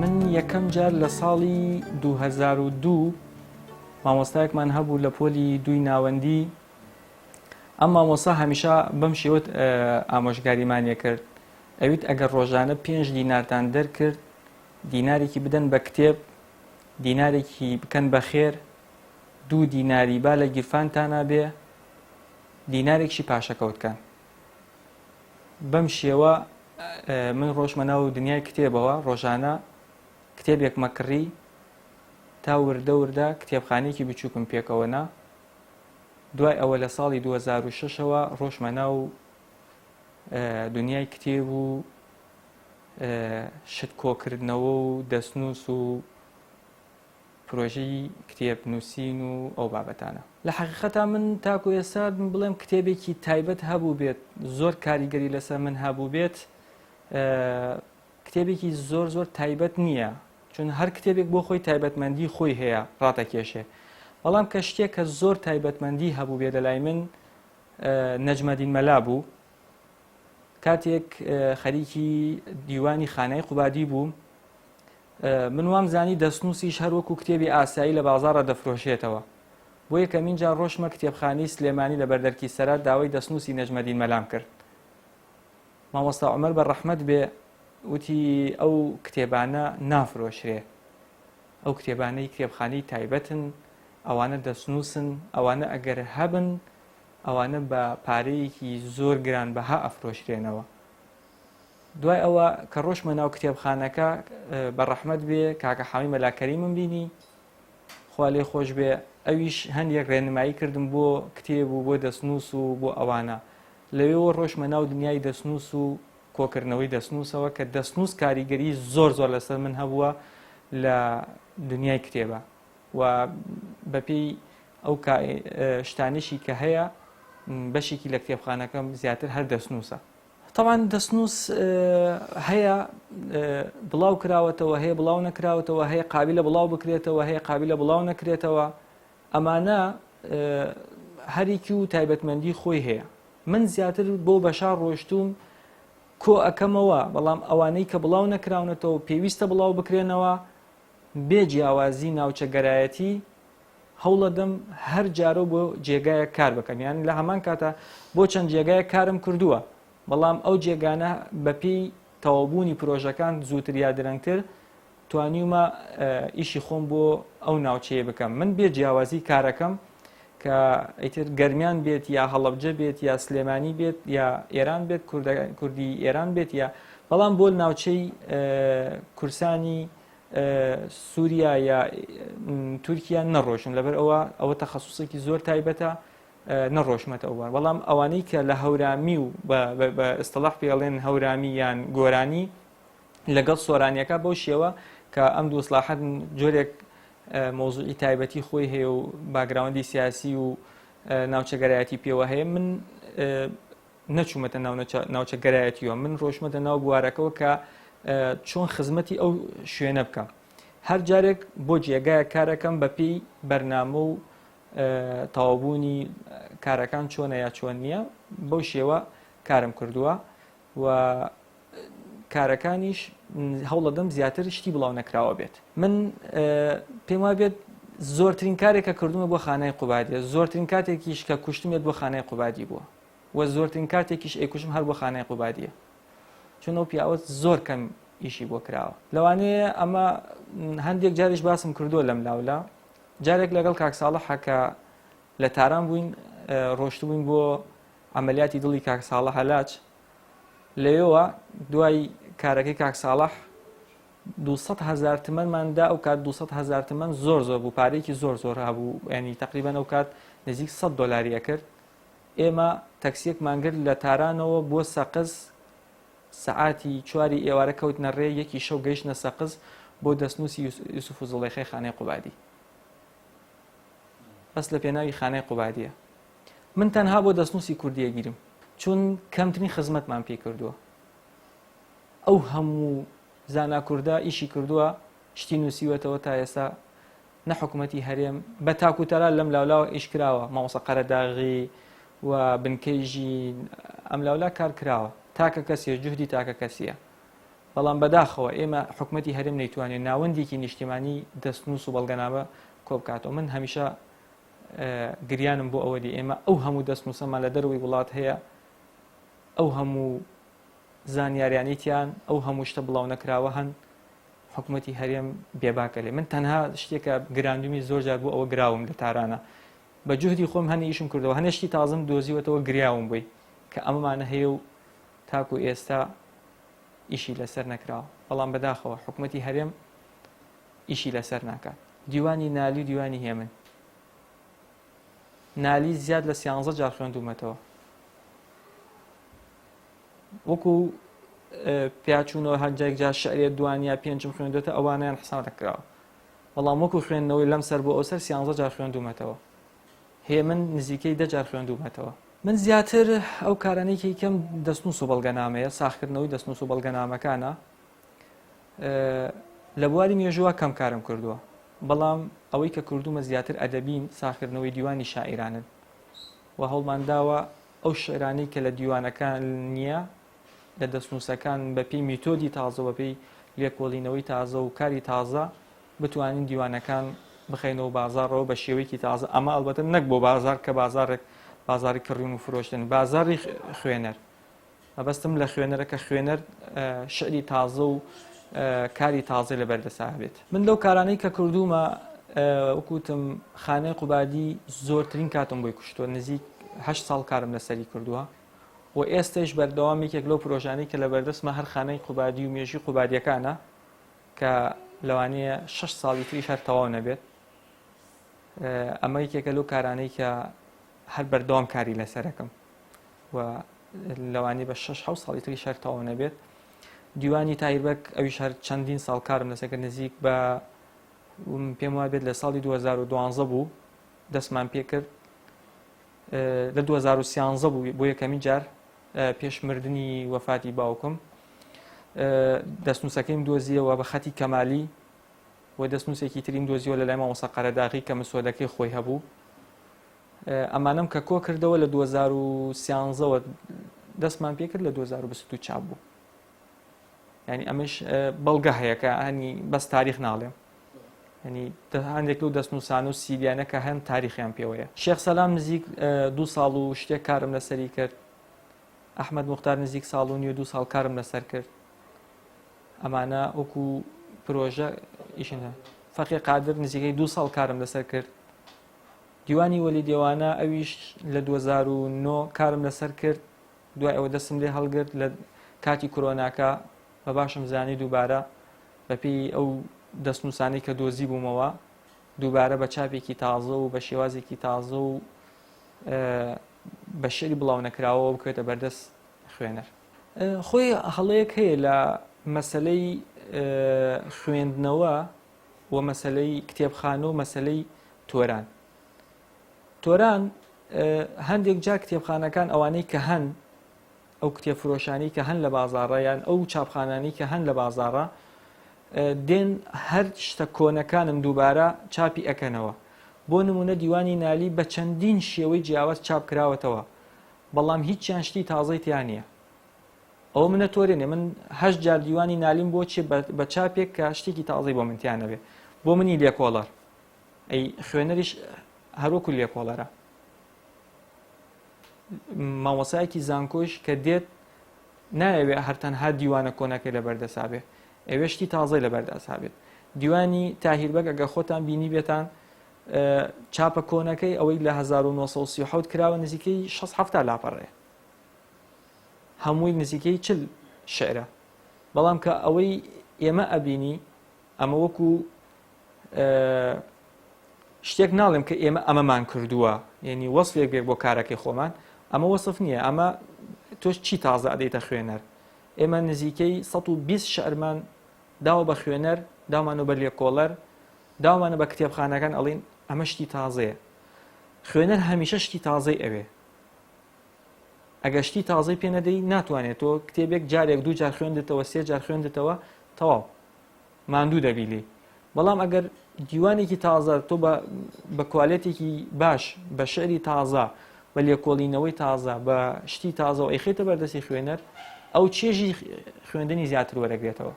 من یەکەم جار لە ساڵی 2002 مامۆستایەکمان هەبوو لە پۆلی دووی ناوەندی ئەم مامۆسا هەمیشە بەم شێوت ئامۆژگاریمانە کرد ئەویت ئەگەر ڕۆژانە پێنج دینارتان دەرکرد دینارێکی بدەن بە کتێب دینارێکی بکەن بە خێر دوو دیناری با لە گیرفانتانە بێ دینارێکشی پاشەکەوتکەن بەم شێوە من ڕۆژمە ناو و دنیای کتێبەوە ڕۆژانە کتێبێک مەکڕی تا وردە وردە کتێبخانێکی بچووکم پێکەوەنا دوای ئەوە لە ساڵی 2006ەوە ڕۆژمە ناو دنیای کتێب و شت کۆکردنەوە و دەستنووس و پرۆژەی کتێب نووسین و ئەو بابەتانە. لە حەقیقەتا من تاکو ئێستا بڵێم کتێبێکی تایبەت هەبووبێت زۆر کاریگەری لەسەر من هەبووبێت کتێبێکی زۆر زۆر تایبەت نییە چون هەر کتێبێک بۆ خۆی تایبەتمەندی خۆی هەیە ڕاتەکێشێ بەڵام کە شتێک کە زۆر تایبەتمەندی هەبووبێت لە لای من نەجمەدین مەلا بوو کاتێک خەریکی دیوانی خانای قوبادی بووم من وام زانی دەستنووسیش هەر وەکو کتێبی ئاسایی لە بازارە دەفرۆشێتەوە بۆ یەکەمین جار ڕۆشمە کتێبخانی سلێمانی لە بەردەرکی سەرات داوای دەستنووسی نەژمەدین مەلام کرد مامۆستا عمر بە ڕەحمەت بێ وتی ئەو کتێبانە نافرۆشرێ ئەو کتێبانەی کتێبخانی تایبەتن ئەوانە دەستنووسن ئەوانە ئەگەر هەبن ئەوانە بە پارەیەکی زۆر گران بەها ئەفرۆشرێنەوە دوای ئەوە کە ڕۆشمە ناو کتێبخانەکە بە ڕەحمەت بێ کاکە حامی مەلاکەریمم بینی خوا لێ خۆش بێ ئەویش هەندێک ڕێنمایی کردم بۆ کتێب و بۆ دەستنووس و بۆ ئەوانە لەوێەوە ڕۆشمە ناو دنیای دەستنووس و کۆکردنەوەی دەستنووسەوە کە دەستنووس کاریگەری زۆر زۆر لەسەر من هەبووە لە دنیای کتێبە و بەپێی ئەو شتانێکی کە هەیە بەشێکی لە کتێبخانەکەم زیاتر هەر دەستنووسە تاوان دەستنووس هەیە بڵاو کراوەتەوە هەیە بڵاو نەکراوەتەوە هەیە قابل لە بڵاو بکرێتەوە هەیە قابل لە بڵاو نەکرێتەوە ئەمانە هەرێکی و تایبەتمەندی خۆی هەیە من زیاتر بۆ بەشار ڕۆشتوم کۆ ئەەکەمەوە بەڵام ئەوانەی کە بڵاو نەکراونەتەوە پێویستە بڵاو بکرێنەوە بێ جیاوازی ناوچەگەرایەتی هەوڵەدەم هەر جارەو بۆ جێگایەک کار بکەم یان لە هەمان کاتە بۆ چەند جێگایە کارم کردووە بەڵام ئەو جێگانە بەپی تەوابوونی پرۆژەکان زووتر یا درەنگتر توانیومە ئیشی خۆم بۆ ئەو ناوچەیە بکەم من بێ جیاوازی کارەکەم کە ئیتر گەرمیان بێت یا هەڵەبجە بێت یا سلێمانی بێت یا ئێران بێت کوردی ئێران بێت یا بەڵام بۆ ناوچەی کورسانی سووریا یا تورکیا نەڕۆشن لەبەر ئەوە ئەوە تەخصصێکی زۆر تایبەتە نەڕۆشمەتە ئەووان بەڵام ئەوانەی کە لە هەورامی و بە ئستەڵح پێڵێن هەورامی یان گۆرانی لەگەڵ سۆرانیەکە بەو شێوە کە ئەم دووسلاحەت جۆرێک مەوزوعی تایبەتی خۆی هەیە و باگراوندی سیاسی و ناوچەگەرایەتی پێوە هەیە من نەچوومەتە ناوچەگەرایەتیوە من ڕۆشمەتە ناو بوارەکەەوە کە چۆن خزمەتی ئەو شوێنە بکەم هەر جارێک بۆ جێگایە کارەکەم بە پێی بەرنامە و تاوابوونی کارەکان چۆنە یا چۆن نییە بەو شێوە کارم کردووە و کارەکانیش هەوڵەدەم زیاتر شتی بڵاو نەکراوە بێت من پێم وا بێت زۆرترین کارێک کە کردومە بۆ خانای قوبادە زۆرترین کاتێکیش کە کوشتمێت بۆ خانای قوبادی بووە و زۆرترین کاتێکیش ئەیکوشم هەر بۆ خانای قوبادیە چون ئەو پیاوە زۆر کەم ئیشی بۆ کراوە لەوانەیە ئەمە هەندێک جاریش باسم کردووە لەم لاولا جارێک لەگەڵ کاکساڵە حەکە لە تاران بووین ڕۆشتبووین بۆ عەمەلیاتی دڵی کاک ساڵح هەلاج لەوێوە دوای کارەکەی کاک ساڵح 200 هزار تمەنمان دا ئەو کات 200 هزار تمەن زۆر زۆر بوو پارێکی زۆر زۆر هەبوو ینی تقریبان ئەو کات نزیک 100 دلاری ئەکرد ئێمە تەکسیەکمان گرت لە تارانەوە بۆ سەقز سەعاتی چواری ئێوارە کەوتنە ڕێ یەکی شەو گەیشتە سەقز بۆ دەستنووسی یوسف و زڵێخی خانەی قوبادی بەس لە پێناوی خانەی قوبادیە من تەنها بۆ دەستنووسی کوردی ئەگیرم چون کەمترین خزمەتمان پێی کردووە ئەو هەموو زانا کوردە ئیشی کردووە شتی نووسیوەتەوە تا ئێستا نە حکوومەتی هەرێم بە تاکوتەرا لەم لاولاوە ئیش کراوە مامۆسا قەرەداغی و بنکەی ژین ئەم لاولا کار کراوە تاکە کەسیە جوهدی تاکە کەسیە بەڵام بەداخەوە ئێمە حکوومەتی هەرێم نەیتوانێت ناوەندێکی نیشتیمانی دەستنووس و بەڵگەنامە کۆبکاتەوە من هەمیشە گریانم بۆ ئەوە دی ئێمە ئەو هەموو دەستنووسەمان لە دەروی وڵات هەیە ئەو هەموو زانیاریانیتیان ئەو هەموو شتە بڵاو نەکراوە هەن حکوومەتی هەرێم بێباکە لێ من تەنها شتێکە گراندمی زۆر جار بۆ ئەوە گراوم لە تارانە بە جوهدی خۆم هەنی ئیشم کردەوە هەنێشتی تازم دۆزیوەتەوە گریاوم بووی کە ئەمەمانە هەیە و تاکو ئێستا ئیشی لەسەر نەکراوە بەڵام بەداخەوە حکوومەتی هەرێم ئیشی لەسەر ناکات دیوانی نالی و دیوانی هێمن نالی زیاد لە سیانزە جار خوێندومەتەوە وەکو پیاچوونەوە هەندێک جار شعرێت دوانیا پێنجم خوێندێتە ئەوانیان حسان دەکراوە بەڵام وەکو خوێندنەوەی لەم سەر بۆ ئەو سەر سیانزە جار خوێندومەتەوە هێ من نزیکەی دەجار خوێندومەتەوە من زیاتر ئەو کارانێکی کەم دەستنووس و بەڵگەنامەیە ساخکردنەوەی دەستنووس و بەڵگەنامەکانە لە بواری مێژووا کەم کارم کردووە، بەڵام ئەوەی کە کردوومە زیاتر ئەدەبین، ساغکردنەوەی دیوانی شاعیرانن و هەوڵمان داوە ئەو شیعرانەی کە لە دیوانەکان نییە، لە دەستنووسەکان بەپێی میتۆدی تازە و بەپێی لێکۆڵینەوەی تازە و کاری تازە بتوانین دیوانەکان بخەینەوە بازاڕەوە بە شێوەیەکی تازە، ئەمە ئەڵبەتە نەک بۆ بازاڕ کە بازاڕێک بازاڕی کڕیون و فرۆشتن، بازاڕی خوێنەر. مەبەستم لە خوێنەرە کە خوێنەر شعری تازە و کاری تازەی لەبەر دەسا بێت من لەو کارانەی کە کردوومە وکوتم خانەی قوبادی زۆرترین کاتم بۆی کوشتووە نزیک هە ساڵ کارم لەسەری کردووە و ئێستش بەردەوام یەکێک لەو پرۆژانەی کە لە بەردەستمە هەر خانەی قوبادی و مێژی قوبادیەکانە کە لەوانەیە شش ساڵی تریش هەر تەواو نەبێت ئەمە یەکێکە لەو کارانەی کە هەر بەردەوام کاری لەسەرەکەم و لەوانی بە شش حو ساڵی تری شار تەواو نەبێت دیوانی تایبەت ئەوی شار چەندین ساڵ کارم لەسەکە نزیک بە پێم وا بێت لە ساڵی 2012 بوو دەستمان پێ کرد لە 2013 بوو بۆ یەکەمی جار پێشمردنی وەفاتی باوکم دەستنووسەکەیم دۆزیەوە بە خەتی کەمالی و دەستنووسێکی ترین دۆزیەوە لە لای مامۆسا قەرەداغی کە مسۆدەکەی خۆی هەبوو ئەمانەم کە کۆ کردەوە لە دوو هەزار و سیانزە وە دەستمان پێ کرد لە دوو هەزار و بیست و دوو چاپ بوو ینی ئەمەش بەڵگە هەیە کە هەنی بەس تاریخ ناڵێم ینی هەندێک لەو دەستنووسان و سیریانە کە هەن تاریخیان پێوەیە شێخ سەلام نزیک دوو ساڵ و شتێک کارم لەسەری کرد ئەحمد مختار نزیک ساڵ و نیو دوو ساڵ کارم لەسەر کرد ئەمانە وەکو پرۆژە ئیشنە فەقی قادر نزیکەی دوو ساڵ کارم لەسەر کرد دیوانی وەلی دێوانە ئەویش لە دوو هەزار و نۆ کارم لەسەر کرد دوای ئەوە دەستم لێ هەڵگرت لە کاتی کرۆناکە بە باشم زانی دووبارە بەپێی ئەو دەستنووسانەی کە دۆزی بوومەوە دووبارە بە چاپێکی تازە و بە شێوازێکی تازە و بە شعری بڵاو نەکراوەوە بکوێتە بەردەست خوێنەر خۆی هەڵەیەک هەیە لە مەسلەی خوێندنەوە و مەسەلەی کتێبخانە و مەسەلەی تۆران تۆران هەندێک جا کتێبخانەکان ئەوانەی کە هەن ئەو کتێب فرۆشانی کە هەن لە بازارڕە یان ئەو چاپخانانی کە هەن لە بازارڕە دێن هەر شتە کۆنەکانم دووبارە چاپی ئەەکەنەوە بۆ نمونە دیوانی نالی بە چەندین شێوەی جیاواز چاپ کراوەتەوە بەڵام هیچیان شتی تازەی تیانە ئەوە منە تۆرێ نێ من هەشت جار دیوانی نالیم بۆ چێ بە چاپێک کە شتێکی تازەی بۆ منتیان نەبێ بۆ منی لێکۆڵەر ئەی خوێنەریش هەروەکو لێکۆڵەرە مامۆسایەکی زانکۆش کە دێت نایەوێ هەرتەنها دیوانە کۆنەکەی لە بەردەسابێ ئەوێ شتی تازەی لە بەردەسابێت دیوانی تاهیربەگ ئەگە خۆتان بینی بێتان چاپە کۆنەکەی ئەوەی لە 1970 کراوە نزیکەی 16 لاپەڕەیە هەمووی نزیکەی چل شیعرە بەڵام کە ئەوەی ئێمە ئەبینی ئەمە وەکو شتێک ناڵێم کە ئێمە ئەمەمان کردووە یعنی وەصفێک بێک بۆ کارەکەی خۆمان ئەمە وەصف نییە ئەمە تۆش چی تازە ئەدەیتە خوێنەر ئێمە نزیکەی 120 شعرمان داوە بە خوێنەر داوانە بە لێکۆڵەر داوانە بە کتێبخانەکان ئەڵین ئەمە شتی تازەیە خوێنەر هەمیشە شتی تازەی ئەوێ ئەگەر شتی تازەی پێ نەدەی ناتوانێت تۆ کتێبێک جارێک دوو جار خوێندتەوە سێ جار خوێندتەوە تەواو ماندوو دەبی لێ بەڵام ئەگەر دیوانێکی تازە تۆ بە کوالێتێکی باش بە شعری تازە بە لێکۆڵینەوەی تازە بە شتی تازە و ئەیخێتە بەردەستی خوێنەر ئەو چێژی خوێندنی زیاتر وەرەگرێتەوە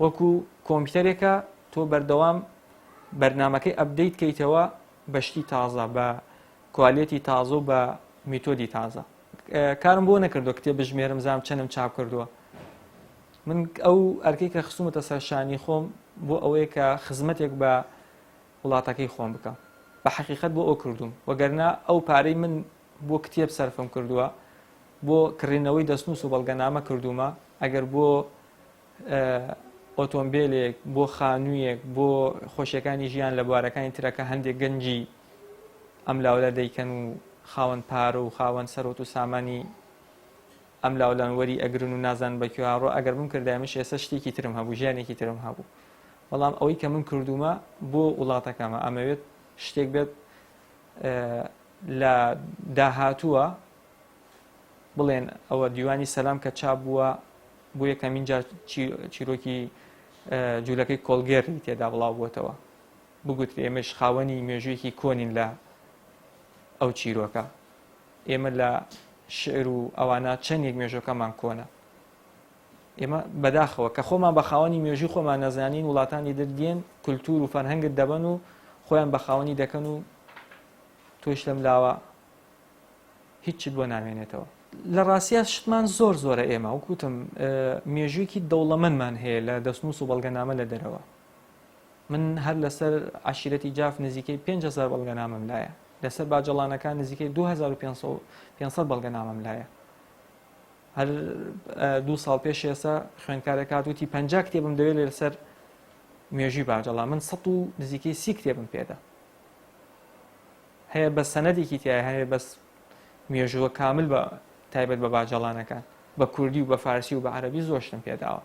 وەکو کۆمپیوتەرێکە تۆ بەردەوام بەرنمەکەی ئەبدەیت کەیتەوە بە شتی تازە بە کوالێتی تازە و بە میتۆدی تازە کارم بۆ نەکردو کتێب بژمێرم زام چەنم چاپ کردووە من ئەو ئەرکی کە خستومەتە سەرشانی خۆم بۆ ئەوەیە کە خزمەتێک بە وڵاتەکەی خۆم بکەم بە حقیقت بۆ ئەو کردوم وەگەرنا ئەو پارەی من بۆ کتێب سەرفم کردووە بۆ کڕینەوەی دەستنووس و بەڵگەنامە کردومە ئەگەر بۆ ئۆتۆمبێلێک، بۆ خانوویەک، بۆ خۆشیەکانی ژیان لە بوارەکانی ترە کە هەندێک گەنجی ئەم لاولە دەیکەن و خاوەن پارە و خاوەن سەرۆت و سامانی ئەم لاولان وەری ئەگرن و نازان بە کوێ هاڕۆ ئەگەر من کردای منش ئێستا شتێکی ترم هەبوو ژیانێکی ترم هەبوو بەڵام ئەوەی کە من کردومە بۆ وڵاتەکەمە ئەمەوێت شتێک بێت لە داهاتووە بڵێن ئەوە دیوانی سەلام کە چا بووە بۆ یەکەمین جار چیرۆکی جوولەکەی کۆلگێری تێدا بڵاو بووتەوە بگوتر ئێمەش خاوەنی مێژوویەکی کۆنین لە ئەو چیرۆکە ئێمە لە شعر و ئەوانە چەندێک مێژۆکەمان کۆنە ئێمە بەداخەوە کە خۆمان بە خاوەنی مێژوی خۆمان نەزانین وڵاتانی دردێن کولتور و فەرهەنگت دەبەن و خۆیان بە خاوەنی دەکەن و تۆش لەم لاوە هیچت بۆ نامێنێتەوە. لە ڕاستیا شتمان زۆر زۆرە ئێمە وەک وتم مێژوویەکی دەوڵەمەندمان هەیە لە دەستنووس و بەڵگەنامە لە دەرەوە من هەر لەسەر عشیرەتی جاف نزیکەی 500 بەڵگەنامەم لایە لەسەر باجەڵانەکان نزیکەی 2500 بەڵگەنامەم لایە هەر دوو ساڵ پێش ئێستا خوێندکارێک هاتوتی پ کتێبم دەوێت لەسەر مێژوی باجەڵا من سە و نزیکەی سی کتێبم پێدا هەیە بەس سەنەدێکی تیایە هەیە بەس مێژووە کامل بە تایبەت بە باجەڵانەکان بە کوردی و بە فارسی و بە عەرەبی زۆر شتم پێداوە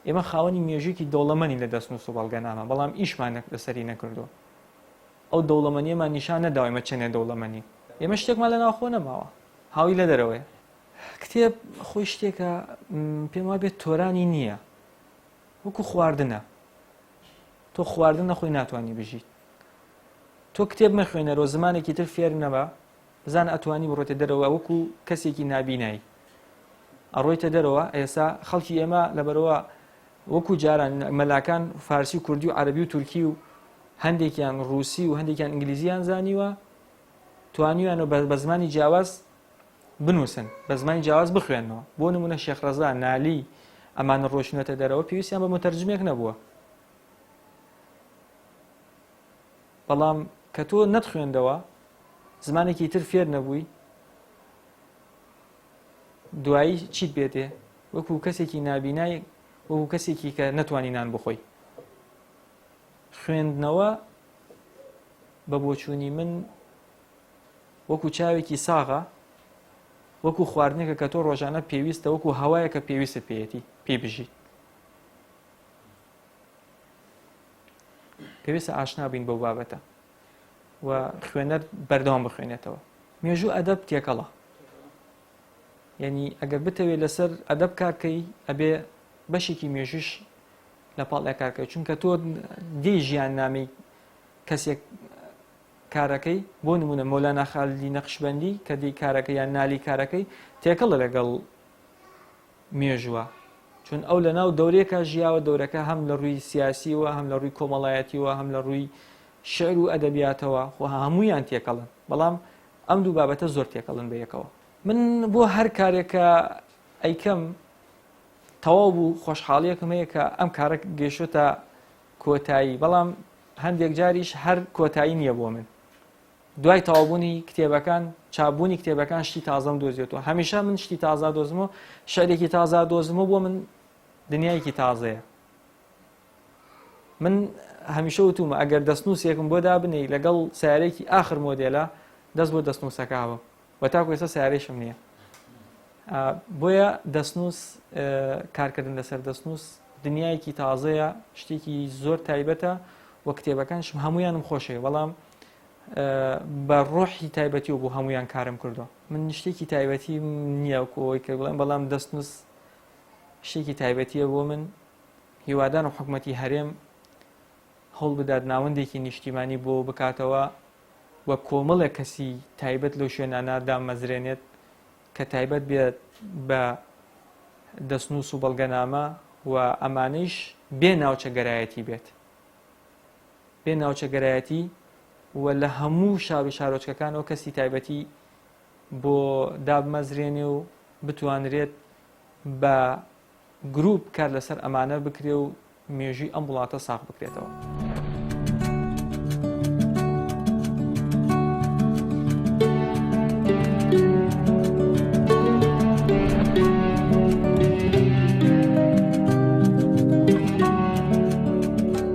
ئێمە خاوەنی مێژوویکی دەوڵەمەنی لە دەستنووس و بەڵگەنامە بەڵام ئیشمان لەسەری نەکردووە ئەو دەوڵەمەنیەمان نیشان نەداوە ئێمە چەندێ دەوڵەمەنی ئێمە شتێکمان لە ناوخۆ نەماوە هاوی لە دەرەوەیە کتێب خۆی شتێکە پێم وا بێت تۆرانی نییە وەکو خواردنە تۆ خواردن نەخۆی ناتوانانی بژیت تۆ کتێب مەخوێنەرەوە زمانێکی تر فێر نەبە بزانە ئەتوانی بڕۆێتە دەرەوە وەکو کەسێکی نابینایی ئەڕۆیتە دەرەوە ئێسا خەڵکی ئێمە لەبەرەوە وەکو جاران مەلاکان فارسی و کوردی و عربی و تورکی و هەندێکیان رووسی و هەندێکیان ئینگلیزیان زانیوە توانیویان و بە زمانی جیاواز بنووسن بە زمانی جیاواز بخوێنەوە بۆ نمونە شێخڕزا نالی ئەمانە ڕۆشنەتە دەرەوە پێویستیان بە متەرجمێک نەبووە بەڵام کە تۆ نەتخوێندەوە زمانێکی تر فێر نەبووی دوایی چیت بێتێ وەکو کەسێکی نابینای وەکو کەسێکی کە نەتوانی نان بخۆی خوێندنەوە بە بۆچوونی من وەکو چاوێکی ساغە وەکو خواردنێکە کە تۆ ڕۆژانە پێویستە وەکو هەوایە کە پێویستت پێێتی پێی بژیت پێویستە ئاشنا بین بەو بابەتە و خوێنەر بەردەوام بخوێنێتەوە مێژوو ئەدەب تێکەڵە یعنی ئەگەر بتەوێت لەسەر ئەدەب کارکەی ئەبێ بەشێکی مێژوش لە پاڵ ئەکارکە چونکە تۆ دی ژیان نامی کەسێک کارەکەی بۆ نمونە مۆلا ناخالی نەخشبندی کە دی کارەکە یان نالی کارەکەی تێکەڵە لەگەڵ مێژوە چون ئەو لە ناو دەورێکە ژیاوە دەورەکە هەم لە ڕووی سیاسیوە هەم لە ڕووی کۆمەڵایەتیوە هەم لە ڕووی شعر و ئەدەبیاتەوە خۆ هەمویان تێکەڵن بەڵام ئەم دوو بابەتە زۆر تێکەڵن بە یەکەوە من بۆ هەر کارێکە ئەیکەم تەواو بوو خۆشحاڵیەکم هەیە کە ئەم کارە گەیشتە کۆتایی بەڵام هەندێک جاریش هەر کۆتایی نییە بۆ من دوای تەوابوونی کتێبەکان چابوونی کتێبەکان شتی تازەم دۆزیێتەوە هەمیشە من شتی تازا دۆزم و شعرێکی تازا دۆزم و بۆ من دنیایەکی تازەیە من هەمیشە وتومە ئەگەر دەستنووسێکم بۆ دابنی لەگەڵ سارێکی ئاخر مۆدێلە دەست بۆ دەستنووسەکەوە بە تاکو ێستا سارێشم نییە بۆیە دەستنووس کارکردن لەسەر دەستنووس دنیایەکی تازەیە شتێکی زۆر تایبەتە و کتێبەکانشم هەمویانم خۆشەوێ بەڵام بە ڕۆحی تایبەتی و بۆ هەمویان کارم کردو من شتێکی تایبەتی نییە کۆی کە بڵێن بەڵام دەست نووس شتێکی تایبەتیە بۆ من هیوادان و حکومەتی هەرێم هەڵ بدات ناوەندێکی نیشتیمانی بۆ بکاتەوە و کۆمەڵێک کەسی تایبەت لەو شوێنانە دامەزرێنێت کە تایبەت بێت بە دەستنووس و بەڵگەنامە و ئەمانەیش بێ ناوچە گەرایەتی بێت بێ ناوچەگەرایەتی و لە هەموو شار و شارۆچکەکانەوە کەسی تایبەتی بۆ دابمەزرێنێ و بتوانرێت بە گروپ کار لەسەر ئەمانە بکرێ و مێژوی ئەم وڵاتە ساخ بکرێتەوە.